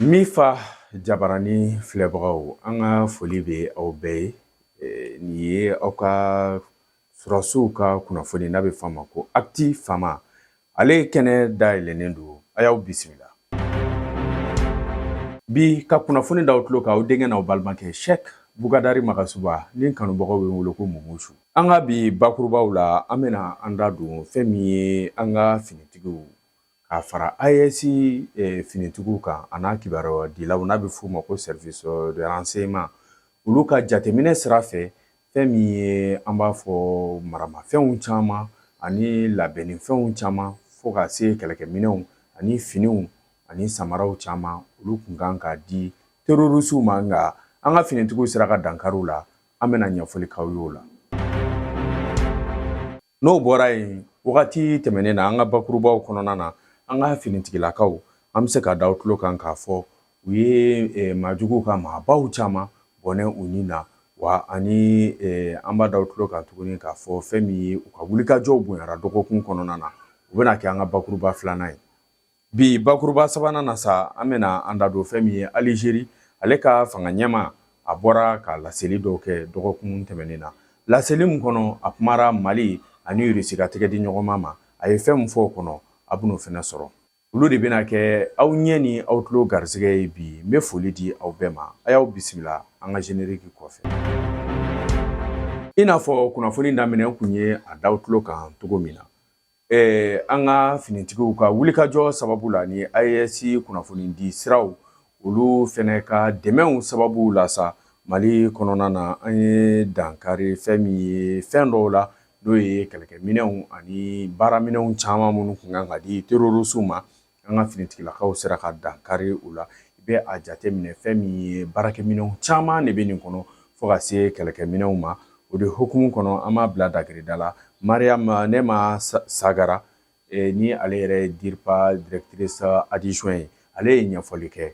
Min fa jabarani filɛbagaw an ka foli bɛ aw bɛɛ ye nin ye aw ka Sɔrɔsiw ka kunnafoni n'a bɛ fɔ a ma ko Actu FAMa, ale kɛnɛ dayɛlɛnnen don, a y'aw bisimila. Bi ka kunnafoni d'aw tulo kan aw denkɛ n'aw balimakɛ Sɛki Bukadari Magasuba ni n kanubagaw bɛ n wele ko Mumusu. An ka bi bakurubaw la, an bɛna an da don fɛn min ye an ka finitigiw k'a fara AES finitigiw kan an'a kibaruya dilaw n'a bɛ f'u ma ko service de renseignement olu ka jateminɛ sira fɛ fɛn min ye an b'a fɔ maramafɛnw caman ani labɛnnifɛnw caman fo ka se kɛlɛkɛminɛnw ani finiw ani samaraw caman olu kun kan ka di terrorisiw ma nka an ka finitigiw sera ka dankari u la an bɛna ɲɛfɔli k'aw ye o la. N'o bɔra yen wagati tɛmɛnen na an ka bakurubaw kɔnɔna na an ka finitigilakaw an bɛ se k'a da aw tulo kan k'a fɔ u ye maajuguw ka maabaw caman bɔnɛ u ni na wa ani an b'a da aw tulo kan tuguni k'a fɔ fɛn min ye u ka wulikajɔw bonyara dɔgɔkun kɔnɔna na o bɛna kɛ an ka bakuruba filanan ye Bi bakuruba sabanan na sa an bɛna an da don fɛn min ye Algérie ale ka fanga ɲɛmaa bɔra ka laseli dɔw kɛ dɔgɔkun tɛmɛnen na laseli min kɔnɔ a kumara Mali ani Russie ka tɛgɛdiɲɔgɔnma ma a ye fɛn min fɔ o kɔnɔ aw bɛn'o fɛnɛ sɔrɔ olu de bɛna kɛ aw ɲɛ ni aw tulo garisɛgɛ ye bi n bɛ foli di aw bɛɛ ma a y'aw bisimila an ka générique kɔfɛ i n'a fɔ kunnafoni daminɛ n kun ye a d'aw tulo kan cogo min na Ɛɛ an ka finitigiw ka wulikajɔ sababu la ni AES kunnafoni di siraw olu fɛnɛ ka dɛmɛw sababu la sa Mali kɔnɔna na an ye dankari fɛn min ye fɛn dɔw la n'o ye kɛlɛkɛminɛnw ani baaraminɛnw caman minnu kun kan ka di terrorisiw ma an ka finitigilakaw sera ka dankari u la i bɛ a jateminɛ fɛn min ye baarakɛminɛnw caman de bɛ nin kɔnɔ fo ka se kɛlɛkɛminɛnw ma o de hukumu kɔnɔ an b'a bila dakirida la Mariam Nema Sagara eh, ni ale yɛrɛ ye DIRPA directrice adjointe ye ale ye ɲɛfɔli kɛ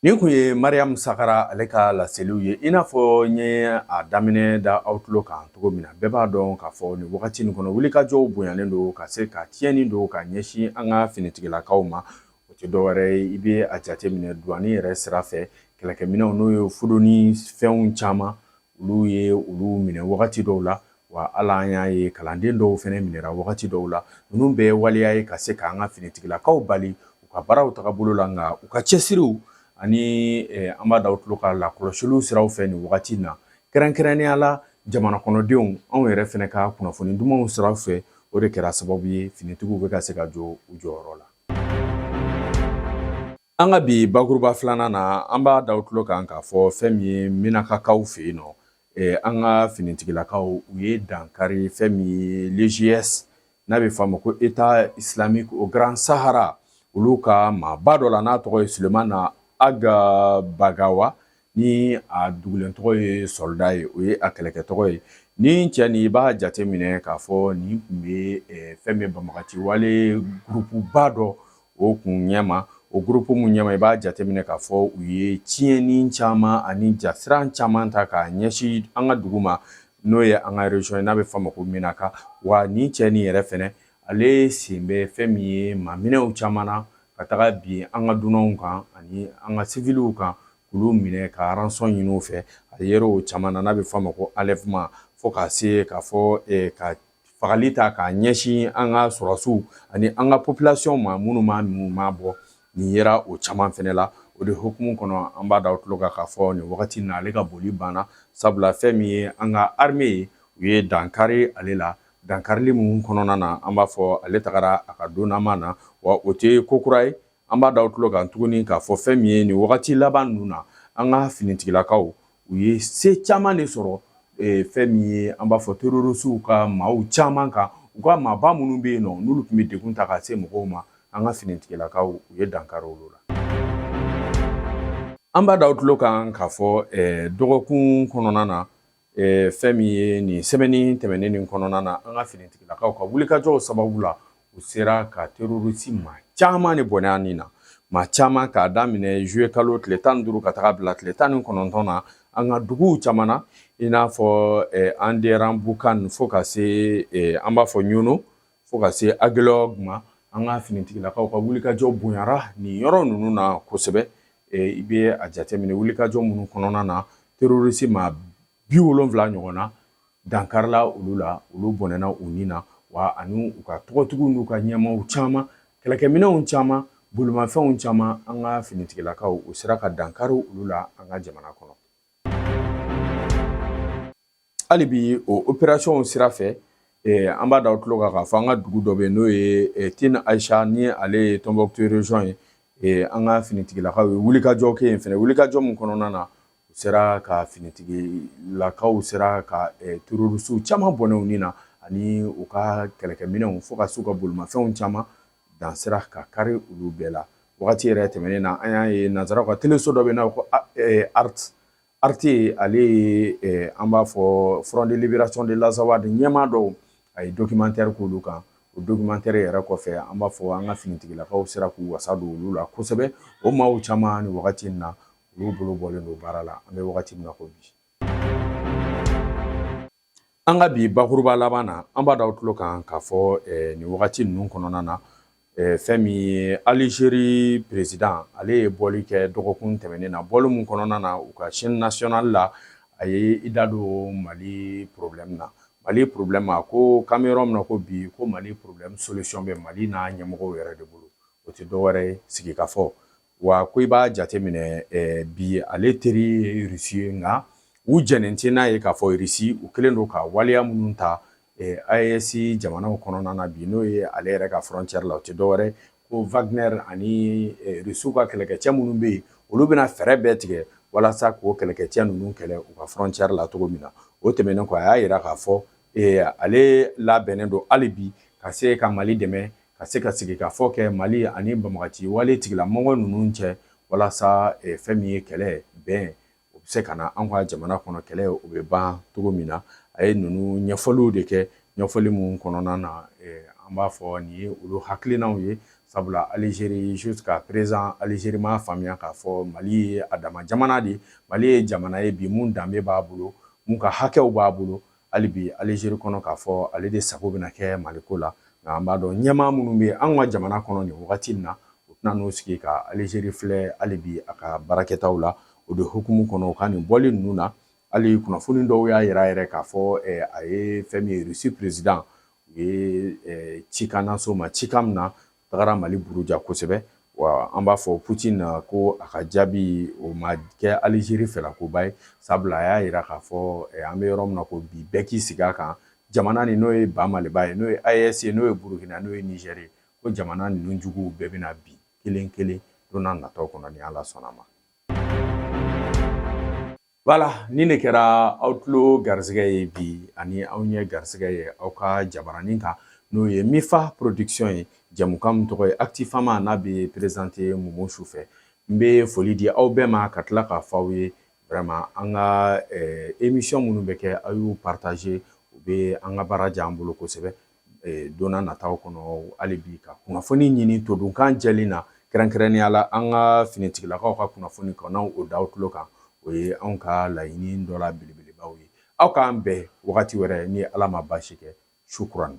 Nin kun ye Mariyamu Sagara ale ka laseliw ye i n'a fɔ n ye a daminɛ da aw tulo kan cogo min na bɛɛ b'a dɔn k'a fɔ nin wagati in kɔnɔ wulikajɔw bonyalen don ka se ka tiɲɛni don ka ɲɛsin an ka finitigilakaw ma o tɛ dɔwɛrɛ ye i bɛ a jateminɛ douane yɛrɛ sira fɛ kɛlɛkɛminɛnw n'o ye fuduni fɛnw caman olu ye olu minɛ wagati dɔw la wa ala an y'a ye kalanden dɔw fɛnɛ minɛra wagati dɔw la ninnu bɛɛ ye waleya ye ka se k'an ka finitigilakaw bali u ka baaraw tagabolo la nka u ka cɛsiriw ani an b'a d'aw tulo kan lakɔlɔsiliw siraw fɛ nin wagati na kɛrɛnkɛrɛnnenya la jamana kɔnɔdenw anw yɛrɛ fɛnɛ ka kunnafoni dumanw sira fɛ o de kɛra sababu ye finitigiw bɛ ka se ka jɔ u jɔyɔrɔ la An ka bi bakuruba filanan na an b'a d'aw tulo kan k'a fɔ fɛn min ye minakakaw fɛ yen nɔ an ka finitigilakaw u ye dankari fɛn min ye l'EIGS n'a bɛ f'a ma ko État islamique au Grand Sahara olu ka maaba dɔ la n'a tɔgɔ ye Sulemana Ag Bakawa ni a dugulen tɔgɔ ye soldat ye o ye a kɛlɛkɛ tɔgɔ ye nin cɛ nin i b'a jate minɛ k'a fɔ nin tun bɛ eh, fɛn min banbaganci wale gurupuba dɔ o kun ɲɛma o gurupu min ɲɛma i b'a jateminɛ k'a fɔ u ye tiɲɛni caman ani jasiran caman ta k'a ɲɛsin an ka dugu ma n'o ye an ka région ye n'a bɛ f'a ma ko minaka wa nin cɛ nin yɛrɛ fɛnɛ ale sen bɛ fɛn min ye maaminɛw caman na ka taga bin an ka dunanw kan ani an ka siviliw kan k'olu minɛ ka rançon ɲini u fɛ a yera o caman na n'a bɛ f'a ma ko enlèvement fo ka se k'a fɔ ka fagali ta k'a ɲɛsin an ka sɔrɔdasiw ani an ka population ma minnu ma minnu ma bɔ nin yera o caman fɛnɛ la o de hukumu kɔnɔ an b'a d'aw tulo kan k'a fɔ nin wagati na ale ka boli banna sabula fɛn min ye an ka armée ye u ye dankari ale la Dankarili min kɔnɔna na an b'a fɔ ale tagara a ka don ma na wa o tɛ ko kura ye an b'a da aw tulo kan tuguni k'a fɔ fɛn min ye nin wagati laban ninnu na an ka finitigilakaw u ye se caman de sɔrɔ fɛn min ye an b'a fɔ terorisiw ka maaw caman kan u ka maaba minnu bɛ yen nɔ n'olu tun bɛ degun ta ka se mɔgɔw ma an ka finitigilakaw u ye dankari olu la an b'a da aw tulo kan k'a fɔ dɔgɔkun kɔnɔna na Ɛɛ fɛn min ye nin semaine tɛmɛnen nin kɔnɔna na an ka finitigilakaw ka wulikajɔw sababu la u sera ka terorisi maa caman de bɔnɛ u ni na maa caman k'a daminɛ zuye kalo tile tan ni duuru ka taga bila tile tan ni kɔnɔntɔn na an ka duguw caman na i n'a fɔ Anderanbukan fo ka se an b'a fɔ Ɲɔnɔ Fo ka se Aguelhok ma an ka finitigilakaw ka wulikajɔ bonyara nin yɔrɔ ninnu na kosɛbɛ i bɛ a jateminɛ wulikajɔ minnu kɔnɔna na terorisi maa bi wolonwula ɲɔgɔn na dankarila olu la olu bɔnɛna u ni na wa ani u ka tɔgɔtigiw n'u ka ɲɛmaaw caman kɛlɛkɛminɛnw caman bolimafɛnw caman an ka finitigilakaw u sera ka dankari olu la an ka jamana kɔnɔ Hali bi o opération sira fɛ an b'a da aw tulo kan k'a fɔ an ka dugu dɔ bɛ yen n'o ye Tin Ayisa ni ale ye Tɔnbukutu région ye an ka finitigilakaw ye wulikajɔ kɛ yen fana wulikajɔ min kɔnɔna na u sera ka finitigilakaw sera ka terroristew caman bɔnɛ u ni na ani u ka kɛlɛkɛminɛnw fo ka se u ka bolimafɛnw caman dan sera ka kari olu bɛɛ la wagati yɛrɛ tɛmɛnen na an y'a ye nanzaraw ka teleso dɔ bɛ yen n'a bɛ fɔ ko ART Arte ale ye an b'a fɔ Front de Libération de l'Azawad ɲɛmaa dɔw a ye documentaire k'olu kan o documentaire yɛrɛ kɔfɛ an b'a fɔ an ka finitigilakaw sera k'u wasa don olu la kosɛbɛ o maaw caman ni wagati in na olu bolo bɔlen don baara la an bɛ wagati min na ko bi An ka bi bakuruba laban na an b'a da aw tulo kan k'a fɔ nin wagati ninnu kɔnɔna na fɛn min ye alizeri peresidan ale ye bɔli kɛ dɔgɔkun tɛmɛnen na bɔli min kɔnɔna na u ka chaîne nationale la a ye i da don mali problème na mali problème a ko k'an bɛ yɔrɔ min na ko bi ko mali problème solution bɛ mali n'a ɲɛmɔgɔw yɛrɛ de bolo o tɛ dɔwɛrɛ ye sigikafɔ Wa ko i b'a jateminɛ bi ale teri ye rusi ye nka u jɛnnen tɛ n'a ye k'a fɔ rusi u kɛlen don ka waleya minnu ta AES jamanaw kɔnɔna na bi n'o ye ale yɛrɛ ka frontière la o tɛ dɔwɛrɛ ko Wagner ani rusiw ka kɛlɛkɛcɛ minnu bɛ yen olu bɛna fɛɛrɛ bɛɛ tigɛ walasa k'o kɛlɛkɛcɛ ninnu kɛlɛ u ka frontière la cogo min na o tɛmɛnen kɔ a y'a yira k'a fɔ ale labɛnnen don hali bi ka se ka mali dɛmɛ ka se ka sigikafɔ kɛ mali ani banbagaci wale tigilamɔgɔ ninnu cɛ walasa eh, fɛn min ye kɛlɛ bɛn o bɛ se ka na an ka jamana kɔnɔ kɛlɛ o bɛ ban cogo min na a ye ninnu ɲɛfɔliw de kɛ ɲɛfɔli min kɔnɔna na eh, an b'a fɔ nin ye olu hakilinaw ye sabula alizeri jusqu'à présent alizeri m'a faamuya k'a fɔ mali ye a dama jamana de mali ye jamana ye bi mun danbe b'a bolo mun ka hakɛw b'a bolo hali bi alizeri kɔnɔ k'a fɔ ale de sago bɛna kɛ maliko la nka an b'a dɔn ɲɛmaa minnu bɛ an ka jamana kɔnɔ nin wagati in na u tɛna n'u sigi ka alizeri filɛ hali bi a ka baarakɛtaw la o de hukumu kɔnɔ u ka nin bɔli ninnu na hali kunnafoni dɔw y'a yira yɛrɛ k'a fɔ eh, a ye fɛn min ye rusi peresidan u ye eh, cikan lase o ma cikan min na tagara mali buruja kosɛbɛ wa an b'a fɔ Poutine a ko a ka jaabi o ma kɛ alizeri fɛlakoba ye sabula a y'a yira k'a fɔ eh, an bɛ yɔrɔ min na ko bi bɛɛ k'i sigi a kan jamana nin n'o ye ba maliba ye n'o ye AES ye n'o ye burukina n'o ye nizɛri ye ko jamana ninnu juguw bɛɛ bɛna bin kelen kelen don nataw kɔnɔ ni ala sɔnna ma Voilà ni ne kɛra aw tulo garisɛgɛ ye bi ani aw ɲɛ garisɛgɛ ye aw ka jabaranin kan n'o ye Mifa production ye jamukan min tɔgɔ ye Actifama n'a bɛ présenté Mumu su fɛ n bɛ foli di aw bɛɛ ma ka tila k'a fɔ aw ye vraiment an ka émission minnu bɛ kɛ aw y'u partager u bɛ an ka baara diya an bolo kosɛbɛ e, donna nataw kɔnɔ hali bi ka kunnafoni ɲini todunkan jɛlen na kɛrɛnkɛrɛnnenya la an ka finitigilakaw ka kunnafoni ka na o da aw tulo kan o ye anw ka laɲini dɔ la belebelebaw ye aw k'an bɛn wagati wɛrɛ ni ala ma baasi kɛ shukran